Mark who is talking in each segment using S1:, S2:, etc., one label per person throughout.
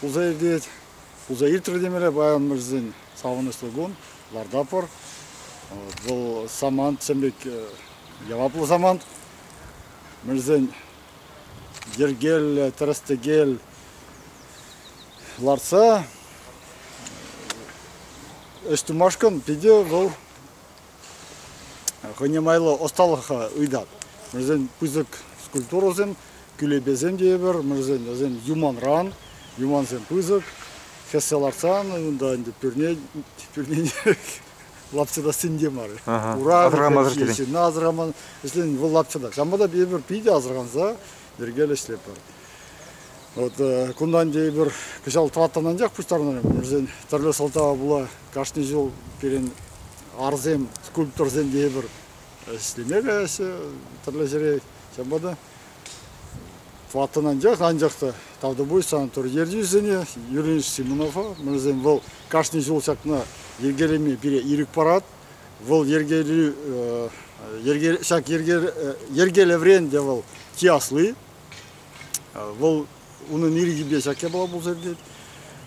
S1: Пулса иртет. Пулса иртрӗ темере паян савӑнӑҫлӑ кун. Ларта пӑр. Вӑл самант чӗм пек яваплӑ самант. Мӗрсен йӗркеллӗ, тӗрӗс-тӗкел лартса ӗҫ тумашкӑн питӗ вӑл Хӑйне майлӑ ӑсталӑха ыйтат. Вӗсен пысӑк скульптурӑсем, кӳлепесем тейӗпӗр. Вӗсен вӗсем юманран, юмансем пысӑк. Хӗссе лартсан унта ӗнтӗ пӳрне, пӳрне лапчӑта сӗнте мар. Ура асрамасӑр ӗҫлеҫҫӗ, асраман ӗҫлен вӑл лапчӑта. Ҫавӑнпа та тейӗпӗр питӗ асранса йӗркеллӗ ӗҫлетпӗр. Вот кунтан тейӗпӗр кӑҫал тӑваттан анчах пуҫтарӑнар вӗсен тӗрлӗ сӑлтава пула Кашни ҫул пирӗн арсем, скульпторсем тейӗпӗр. Ӗҫлеме каяҫҫӗ тӗрлӗ ҫӗре. Ҫавӑнпа та ваттӑн анчах, анчах та тавтапуҫ санаторий ертӳҫисене Юрий Симонова. Мӗншӗн вӑл кашни ҫул ҫакна йӗркелеме пире ирӗк парать. Вӑл йӗркелӳ ҫак йӗркелеврен те вӑл чи асли. Вӑл унӑн ирӗкӗпе ҫак япала пулса иртет.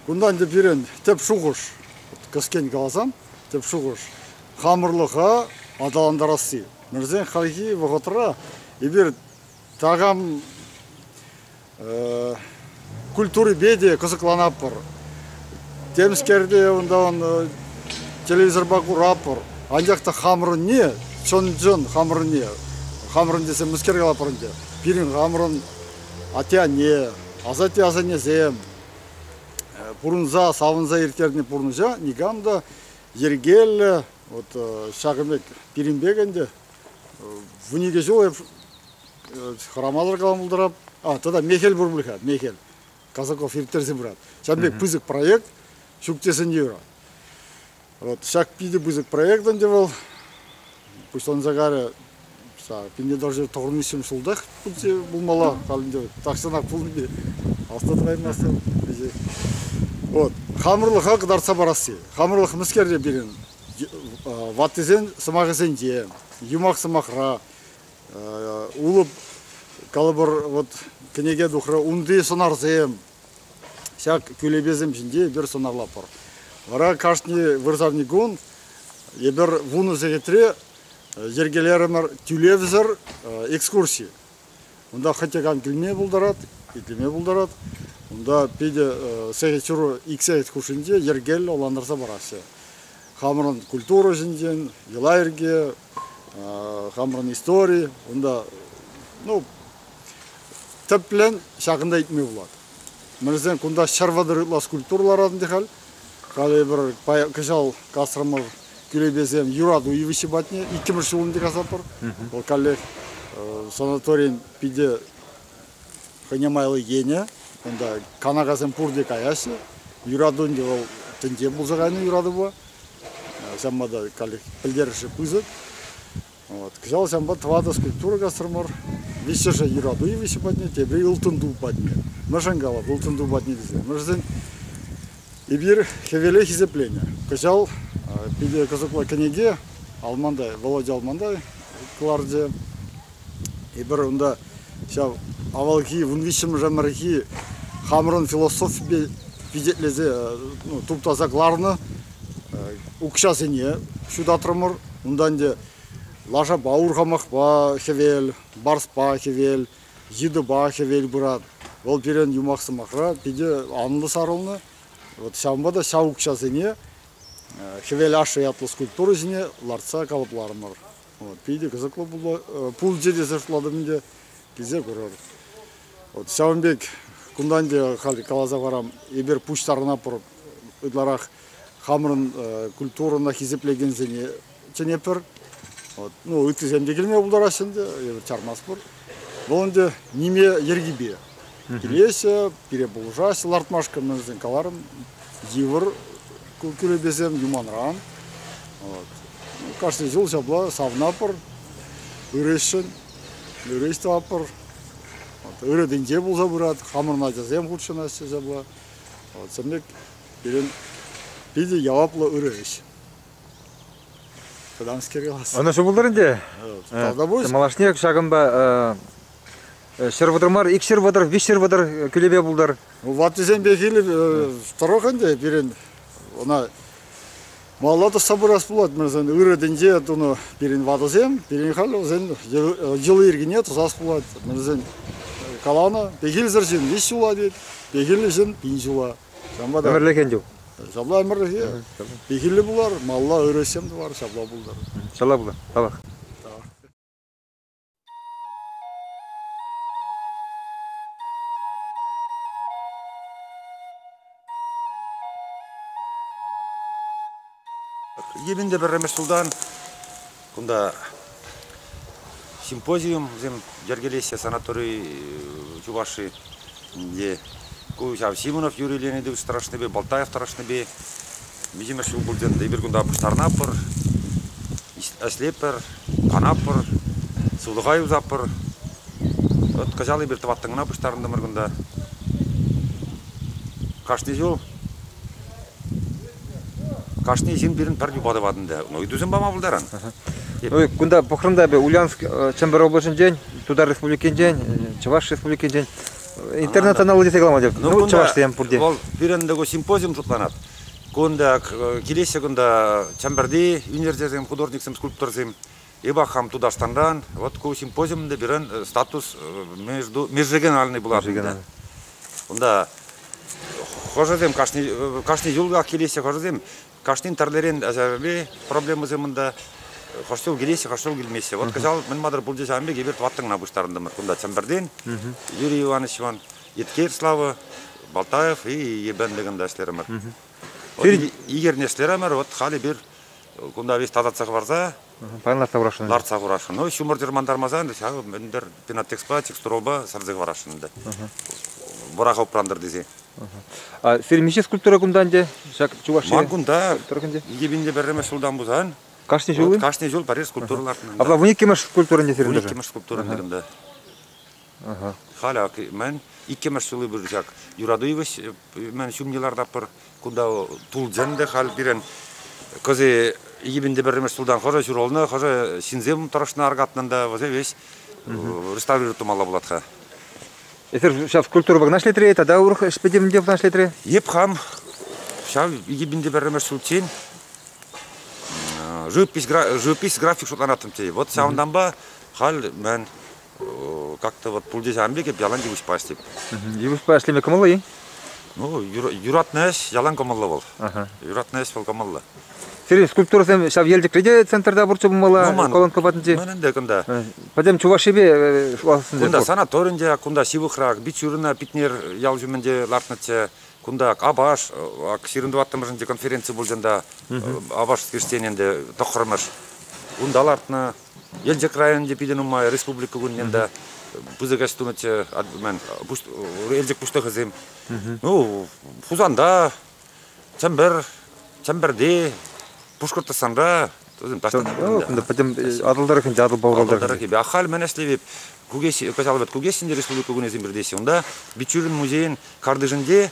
S1: Кунтан тӗп пирӗн тӗп шухӑш, кӗскен каласан, тӗп шухӑш хамӑрлӑха аталантарасси. Мӗншӗн хальхи вӑхӑтра эпир такам культурипе те кӑсӑкланатпӑр. Темскерте унтан телевизорпа куратпӑр. Анчах та хамӑрӑнне чӑн-чӑн хамӑрӑнне хамӑрӑн тесе мӗскер калатпӑр ӗнтӗ пирӗн хамӑрӑн атте-анне, асатте-асаннесем пурӑнса савӑнса ирттернӗ пурнӑҫа никам та йӗркеллӗ вот ҫакӑн пек пирӗн пек ӗнтӗ вун икӗ ҫул хӑрамасӑр калама пултарап а тата мехел пур пуль-ха мехел казаков ирттерсе пырат ҫавӑн пек пысӑк проект ҫук тесен те юрать Вот ҫак питӗ пысӑк проект ӗнтӗ вӑл. Пуҫланса карӗ. Пинне даже тӑхӑрмӗшем ҫултах пулмалла. Халь ӗнтӗ тахҫанах пулнипе асла тӑкаймастӑн вӗҫе. Вот хамӑрлӑха кӑтартса парасси. Хамӑрлӑх мӗскерре пирӗн ваттисен сӑмахӗсенче, юмах сӑмахра, улӑп калӑпӑр вот кӗнеке тухрӗ, унти сӑнарсем, Ҫак кӳлепесем ҫинче эпир сӑнарлатпӑр. Вара кашни вырсарникун эпир вунӑ сехетре йӗркелерӗмӗр тӳлевсӗр экскурси. Унта хӑтьӑкан кӳлме пултарать, итлеме пултарать. Унта питӗ сехет ҫуру ик сехет хушшинче йӗркеллӗ улантарса параҫҫӗ. Хамӑрӑн культура ҫинчен, йӑла-йӗрке, хамӑрӑн истори. Унта, ну, Тӗплӗн ҫакӑнта ыйтми пулать. Мӗншӗн кунта ҫӗр вӑтӑр ытла скульптура ларатӑн те халь. Халӗ пӗр кӑҫал касрӑмӑр кӳрепесем юрату йывӑҫҫи патне иккӗмӗш ҫул ӗнтӗ касатпӑр. Вӑл каллех санаторин питӗ хӑйне майлӑ енӗ. Унта канакасем пурте каяҫҫӗ. Юрату ӗнтӗ вӑл тӗнче пулса кайнӑ юратупа. Ҫавӑнпа та каллех пӗлтерӗшлӗ пысӑк. Кӑҫал ҫавӑнпа тӑватӑш скульптура касрӑмӑр. Виҫҫӗшӗ юрату йывӑҫӗ патне, тепри ылтӑн ту патне. Мӗншӗн калап ылтӑн ту патне тесе? Мӗншӗн эпир хӗвеле хисепленӗ. Кӑҫал питӗ кӑсӑклӑ кӗнеке Алмантай, Володя Алмантай кӑларчӗ. Эпир унта ҫав авалхи вун виҫҫӗмӗш ӗмӗрхи хамӑрӑн философипе пичетлесе ну, туптаса кӑларнӑ укҫасене ҫутатрӑмӑр. Унтан те лашапа урхамахпа хӗвел, барспа хӗвел, йытӑпа хӗвел пырать. Вӑл пирӗн юмах сӑмахра питӗ анлӑ сарӑлнӑ. Вот ҫавӑнпа та ҫав укҫасене хӗвел ашшӗ ятлӑ скульптура ҫине лартса калӑпларӑмӑр. Вот, питӗ кӑсӑклӑ пулчӗ тесе шутлатӑп ӗнтӗ. Килсе курӑр. Ҫавӑн пек кунтан те халь каласа парам, эпир пуҫтарӑна пур ытларах хамӑрӑн культурӑна хисеплекенсене чӗнетпӗр. Ну, ыттисем те килме пултараҫҫӗ ӗнтӗ, чармас пур. Вӑл ӗнтӗ ниме йӗркипе килеҫҫӗ, пире пулӑшаҫҫӗ лартмашкӑн, мен вӗсен каларӑм, йывӑр кӳлепесем юманран. Кашни ҫул ҫапла савнапӑр, ырӑҫшӑн. Ҫӳрес те аппӑр. Ырӑтӗнче пулса пырать, хамӑрӑн ачасем хутшӑнаҫҫӗ ҫапла. Чӑн пек пирӗн питӗ яваплӑ ырӑ ӗҫ. Вӑтанскере вас. Ӑна ҫӑмӑлтар ӗнтӗ.
S2: Тавта пуҫ.
S1: Малашне ҫакӑнпа
S2: ҫӗр вӑтӑр мар, ик ҫӗр вӑтӑр, виҫ ҫӗр вӑтӑр кӳлепе пултар. Ваттисем пехил
S1: тӑрӑх ӗнтӗ пирӗн ӑна Малалла тӑсса пырас пулать мирсен ырӑ тӗнче тунӑ пирӗн ватӑсем, пирӗн халь вӗсен йӑли-йӗркине тӑсас пулать. Вӗсен каланӑ, пехилсӗр ҫын виҫ ҫула тет, пехиллӗ ҫын пин ҫула. Ҫавӑнпа та ӗмӗрлӗхен чух.
S2: Ҫапла ӗмӗрлӗхе.
S1: Пехилле пулар, малла ырӑ ӗҫсем тӑвар, ҫапла пултӑр. Ҫапла пулар. Тавах.
S3: Ирӗн те пӗрремӗш ҫултан кунта симпозиумсем йӗркелеҫҫӗ санатори Чувашии. Ку ҫав Симонов Юрий Леонидович тӑрӑшнипе, Болтаев тӑрӑшнипе миҫемӗш ҫул пултӑн, эпир кунта пуҫтарӑнатпӑр, ӗҫлетпӗр, канатпӑр, сывлӑха юсатпӑр. Вӑт кӑҫал эпир тӑваттӑн кӑна пуҫтарӑнтӑмӑр кунта. Кашни ҫул кашни ҫын пирӗн пӗр юпа тӑвать ӗнтӗ. Ну, ыйтусем пама пултаран. Ну, кунта
S2: пӑхрӑм та эпӗ Ульяновск, Чӗмпӗр облаҫӗнчен, Тутар Республикинчен, Чӑваш Республикинчен Интернета на улице каламадӗ. Ну, ну чӑвашсем пурте. Вӑл пирӗн тӗку
S3: симпозиум шутланать. Кунта килеҫҫӗ кунта Чамберти университетсем художниксем, скульпторсем. Ибах хам Тутарстанран. Вот ку симпозиумда пирӗн э, статус э, между межрегиональный булат. Унта хожасем кашни кашни юлгах килеҫҫӗ хожасем Кашнин тӗрлӗрен асаплӗ проблемӑсем унта. Хӑш ҫул килеҫҫӗ, хӑш ҫул килмеҫҫӗ. Вот кӑҫал мӗн матӑр пулчӗ ҫавӑн пек, эпир тӑваттӑна пуҫтарӑнтӑмӑр. Кунта Чӗмпӗртен Юрий Ивановичпан Еткер Слава, Балтаев и Ебен Бегында ӗҫлерӗмӗр. Вот Игорьне ӗҫлерӗмӗр, вот халӗ эпир кунта весь татӑлса хӑварса Паян лартса хурасшӑн.
S2: Лартса хурасшӑн. Ну, ҫумӑр
S3: чӑрмантармасан ҫав мӗн-тӗр пенотекспа, текстурӑпа сарса хӑварасшӑн ӗнтӗ. Вӑраха упрантӑр тесе. А сирӗн
S2: миҫе скульптура кунта ӗнтӗ? Ҫак Чувашия Ман кунта
S3: кунта? Икӗпинче пӗрремӗш ҫултан пусан. Кашни ҫул? Кашни
S2: ҫул пӗрер скульптура
S3: лартнӑ. Апла вун иккӗмӗш скульптура
S2: ӗнтӗ сирӗн даже? Вун иккӗмӗш скульптура ӗнтӗ кунта.
S3: Халь ак мӗн, иккӗмӗш ҫули пыр ҫак. Юрату йывӑҫ мӗн ҫумне лартатпӑр. Кунта тулчӗн те халь пирӗн кӑсӑ йӗпенте пӗрремӗш ҫултан хӑшӗ ҫуралнӑ, хӑшӗ ҫынсем тӑрӑшнӑ аркатнӑн та вӗсем веҫ реставрирует тумалла пулать-ха. Эсир
S2: ҫав культура вӑгна ӗҫлетре тата урӑх ӗҫ пӗтӗмӗнте вӑна ӗҫлетре? Эп хам
S3: ҫав йӗпенте пӗрремӗш ҫулччен живопись, живопись график шутланаттӑм тей. Вот ҫавӑнтанпа халь мӗн Как-то вот пуль ҫавӑн пек эп ялан йывӑҫпа ӗҫлеп. Йывӑҫпа ӗҫлеме
S2: кӑмӑллӑ-и? Ну,
S3: юратнӑ ӗҫ ялан кӑмӑллӑ вӑл. Юратнӑ ӗҫ вӑл кӑмӑллӑ. Сире скульптурӑсем
S2: ҫав Елчӗкре те центрта пурччӗ пулмалла, ну, колонка патӗнче? Ман ӗнтӗ кунта.
S3: Пӗтӗм Чувашипе
S2: ӑсӑнчӗ. Кунта санаторинче,
S3: кунта ҫывӑхрах, Бичурина Питнер ял ҫумӗнче лартнӑччӗ. Кунта Апаш, ак ҫирӗм тӑваттӑмӗшӗнчи конференци пулчӗ ӑнта. Апаш скрещтени ӗнтӗ тӑххӑрмӗш. Унта лартнӑ. Елчӗк районӗнче питӗ нумай республика кунне та пысӑк ӗҫ тунӑччӗ Елчӗк пуҫлӑхӗсем. Ну, Хусанта, Чӗмпӗр, Чӗмпӗрти, Пушкӑртстанра ну,
S2: пӗтӗм Атӑл тӑрӑхӗнче Атӑл Пӑлкал тӑрӑхӗ. Ахаль мӗн ӗҫлевӗп
S3: Кукеҫ, каҫалӑвӗт Кукеҫ ӗнче республика кунӗсем пиртеҫҫӗ. Унта Бичурин музейӗн картишӗнче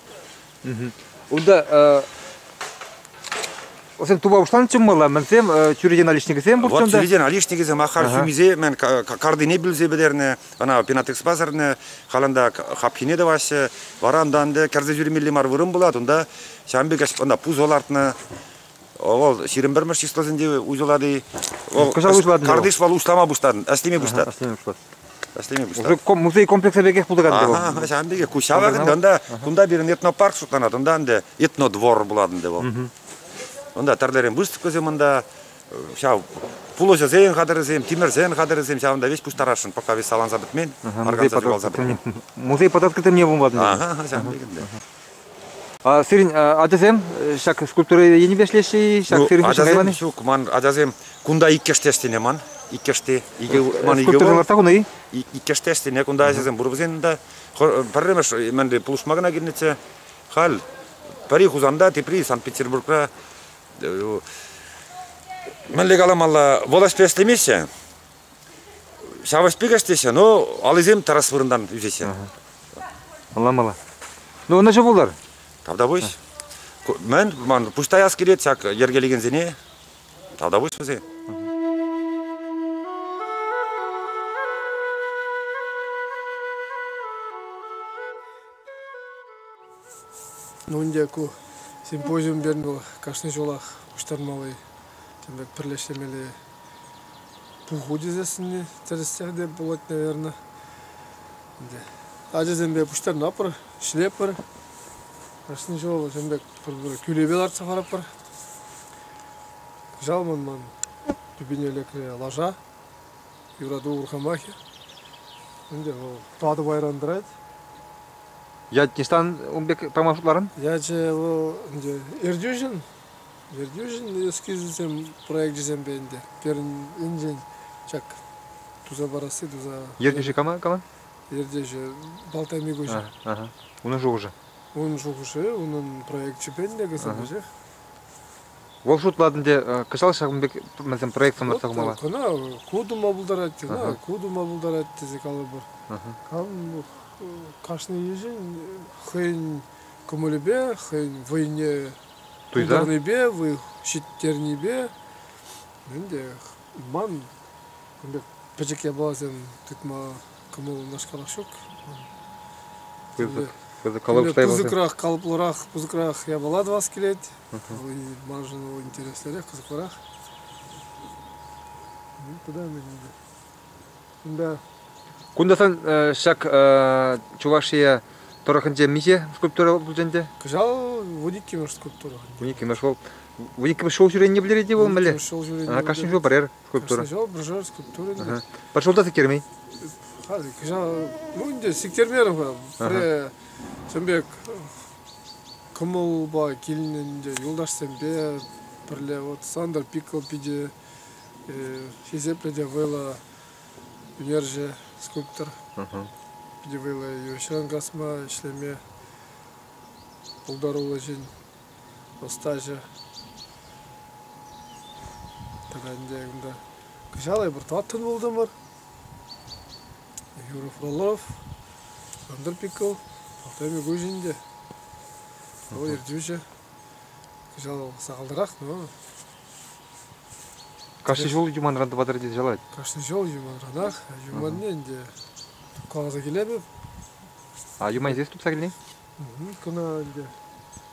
S3: Унта
S2: Васен тума пуҫланӑ чӑммала, мӗнсем чӳрече наличникӗсем пур. Вот чӳрече наличникӗсем
S3: ахар хӳмисе мен картине пӳлсе пӗтернӗ, ӑна пенатекс пасарнӑ, халанда хапхине тӑваҫҫӗ. Вара ӑнтан кӗрсе ҫӳремелли мар вырӑн пулать, унта ҫам пек ӑна пусо лартнӑ. Вӑл ҫирӗм пӗрмӗш числосенче уҫӑлать-и? Кӑҫал уҫӑлатӑн Картиш вӑл услама пуҫтарнӑ, ӗҫлеме пуҫтарнӑ. Ӑслеме пуҫлать. Ӗҫлеме пуҫтарнӑ. Музей
S2: комплексӗ пекех пултарать. Ага, ҫавӑн пекех. Ку
S3: ҫавӑрӑн кунта, кунта пирӗн этнопарк шутланать, унта ӗнтӗ этнодвор пулатӑн те вӑл. Унта тӗрлӗрен выставкӑсем унта, ҫав пулӑҫӑсен хатӗрӗсем, тимӗрсен хатӗрӗсем, ҫавӑнта веҫ пуҫтарасшӑн, пока веҫ саланса пӗтмен, органса чупалса пӗтмен. Музей подоткрытым
S2: не пулматӑн. Ага, ҫавӑн пекех. Сирӗн ачасем ҫак
S3: скульптура
S2: енӗпе ӗҫлеҫҫӗ-и?
S3: Ҫак ну,
S2: сирӗн ачасем ҫук, ман ачасем
S3: кунта иккӗште ӗҫленӗ ман. Иккӗште икӗ ман икӗ Скульптура
S2: лартса хунӑ-и? Иккӗште ӗҫленӗ кунта
S3: ачасем пур вӗсен та. Пӗрремӗш мӗнре пулӑшма кӑна килнӗччӗ. Халь пӗри Хусанта, тепри Санкт-Петербургра. Мӗнле каламалла, вӑл ӗҫпе ӗҫлемеҫҫӗ. Ҫавӑш пекех теҫҫӗ, но алисем тӑрас вырӑнтан ӳсеҫҫӗ.
S2: Палламалла. Ну, ӑнӑҫу пултӑр. Тавтапуҫ.
S3: Мӗн, ман пуҫ таяс килет ҫак йӗркелекенсене. Тавтапуҫ вӗсен.
S4: Ну ӗнтӗ ку симпозиум бернӗ вӑл кашни ҫулах пуҫтармалли, тем пек пӗрлештермелли Пуху тӳсессине тӗрӗсех те пулать, наверное. Ачасемпе пуҫтарӑнатпӑр, ӗҫлетпӗр. Кашни ҫул ҫын пек пӗр-пӗр кӳлепе лартса хӑратпӑр. Кӑҫал ман ман тупине лекрӗ лаша, юрату урхамахӗ. Ӗнтӗ вӑл тӑватӑ пайран тӑрать.
S2: Ять ниҫтан ун пек пама шутларӑн? Ячӗ вӑл
S4: ӗнтӗ Эртюшин. Ертӳҫӗн эскизӗсем проекчӗсемпе ӗнтӗ пирӗнншӗн ҫак туса парасси туса. Ертӳҫӗ кама кама?
S2: Ертӳҫӗ
S4: Балтай Микуҫа. Унӑн
S2: шухӑшӗ? Унӑн шухӑшӗ,
S4: унӑн проекчӗпе ӗнтӗ кӑсӑкӗсех.
S2: Вӑл шутлатӑн те кӑҫал ҫакӑн пек мӗнсем проектсем лартса хумалла? Кӑна ку тума
S4: пултарать, кӑна ку тума пултарать тесе калӑпӑр. Кашни йышӗн хӑйӗн кӑмӑлӗпе, хӑйӗн вӑйне Туйтарнипе, выльӑх ҫитернипе ӗнтӗ ман кун пек пӗчӗк япаласем тытма кӑмӑл унашкалах ҫук. Пысӑкрах, калӑплӑрах, пысӑкрах япала тӑвас килет. Маншӑн вӑл интереслӗрех, кӑсӑклӑрах. Куда мне надо?
S2: Кунтан ҫак Чуваш Ие тӑрӑхӗнче миҫе скульптура пулчӗ ӗнтӗ? Кӑҫал
S4: вуниккӗмӗш скульптура. Вуниккӗмӗш ҫул.
S2: Вуниккӗмӗш ҫул ҫӳренине пӗлтерет-и вӑл мӗнле? Вуниккӗмӗш ҫул ҫӳренине. Кашни ҫул
S4: пӗрер скульптура.
S2: Кашни ҫул пӗршер скульптура.
S4: Пӗр ҫулта сиктермен?
S2: Кӑҫал,
S4: ну ӗнтӗ сиктермерӗм-ха. Пӗрре чӑн пек кӑмӑлпа килнӗ ӗнтӗ юлташсемпе пӗрле. Вот Сандер Пикл питӗ Хисеплӗ те вӑйлӑ ӳнерҫӗ, скульптор. Питӗ вӑйлӑ йывӑҫран касма, ӗҫлеме пултаруллӑ ҫын, ӑстаҫӑ. Тата ӗнтӗ кунта кӑҫалхи пӗр тӑваттӑн пултӑмӑр. Юрий Фролов, Андер Пикл, Артемий Гузин те. Вӑл ертӳҫӗ. Кӑҫал сахалрах, но
S2: Кашни ҫул юманран тӑватӑр тесе чарать. Кашни ҫул юманранах,
S4: юманне ӗнтӗ каласа килетӗп. А
S2: юман здесь тупса килни? Кӑна
S4: ӗнтӗ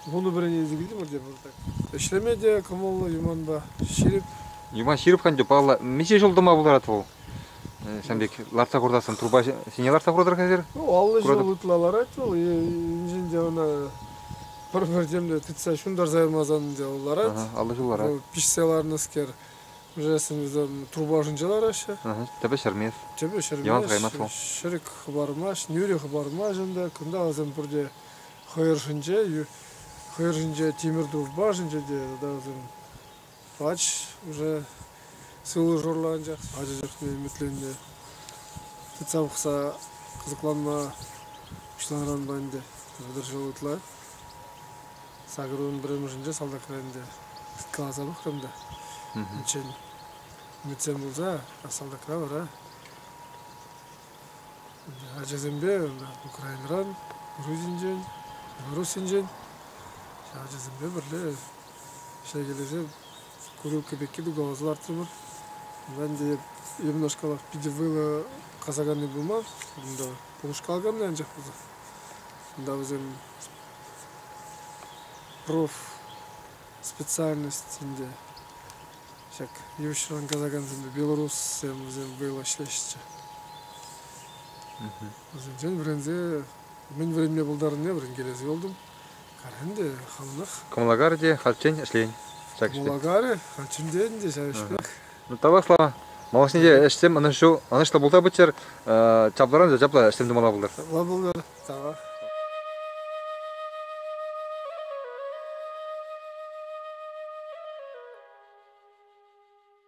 S4: вунӑ пӗрене илсе килтӗмӗр те пӑртак. Ӗҫлеме те кӑмӑллӑ юманпа ҫирӗп. Юман ҫирӗп хан
S2: палла миҫе ҫул тӑма пултарать вӑл? Э, Ҫавӑн пек лартса хуртассан трупа ҫине лартса хуртӑр-ха эсир? Ну, аллӑ ҫул ытла
S4: ларать вӑл, инҫен те ӑна Пӗр-пӗр темле тытса ҫунтарса ямасан ӗнтӗ вӑл ларать. аллӑхи ларать. Вӑл пиҫсе
S2: ларнӑскер,
S4: вӗсем труба ӑшӗнче лараҫҫӗ. Тӗпе ҫӗрмест.
S2: Тӗпе ҫӗрмест. Йӑван
S4: хӑймасть вӑл.
S2: Ҫӗрӗк хӑпармасть,
S4: нӳрӗ хӑпармасть ӗнтӗ. Кунта вӗсем пурте хӑйӑршӗнче, хӑйӑр ҫинче тимӗр тулпа ӑшӗнче те тата вӗсем Пач уже сывлӑшӑрлӑ анчах ача чухне ӗмӗтленнӗ. Тытса пӑхса кӑсӑкланма пуҫланӑранпа ӗнтӗ вӑтӑрҫул ытла. Сакӑрӑн пӗрремӗшӗнче салтакра ӗнтӗ каласа пӑхрӑм та. Унччен ӗмӗтсем пулса, а салтакра вара ачасемпе Украинӑран, Грузинчен, Белоруссинчен ачасемпе пӗрле Ҫак эрнере курилка пекки пуканӑсем лартрӑмӑр. Ӗнтӗ ҫакнашкалах питӗ вӑйлӑ касаканни пулман кунта. Пулӑшкал кӑларнӑ анчах пулса. Кунта вӗсем проф. специальность ӗнтӗ. Ҫак йывӑҫран касакансемпе белоруссем вӗсем вӑйлӑ ӗҫлеҫҫӗ. Вӗсенчен вӗренсе мӗн вӗренме пултарнине вӗренкелесе юлтӑм. Кӑмӑлакарӗ те хальччен
S2: ӗҫлен ҫак ӗҫпе. Кӑмӑлакарӗ
S4: хальччен те ҫав ӗҫпех. Ну, тавлашла.
S2: Малашне те ӗҫсем ӑнӑҫу, ӑнӑҫлӑ пулса пыччӑр. Чаплӑран та чаплӑ ӗҫсем тумалла пултӑр. Чаплӑ пултӑр. Тавах.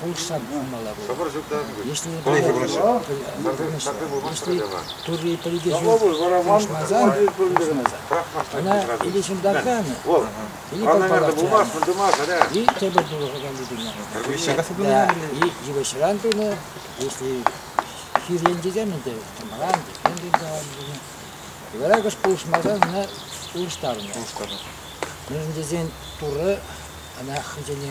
S5: Пулӑшса пыма мала пулать. Шӑпӑр ҫук та. Если если Турри пӗлкӗ ҫук пулӑшмасан, она или ҫунтарканı, или подпалаканı, и тепӗр пулӑшакан тытӑнма пулать. И йывӑҫран тунӑ, если хирен тесем ӗнтӗ, чӑмран тесем тыртаван тунӑ. Варакӑш пулӑшмасан ӑна улӑштарнӑ. Мӗншӗн тесен Туры ӑна хӑйсене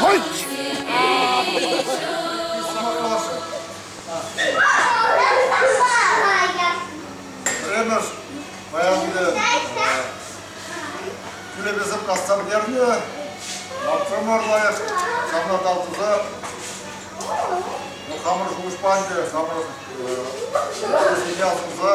S1: Хӑть! Пӗрремӗш баянды тӳлевесем кассан бернӗ. Лапсамар лайӑх ҫавна тав туса хамӑр шухӑш панчӗ, хамӑр сигнал туса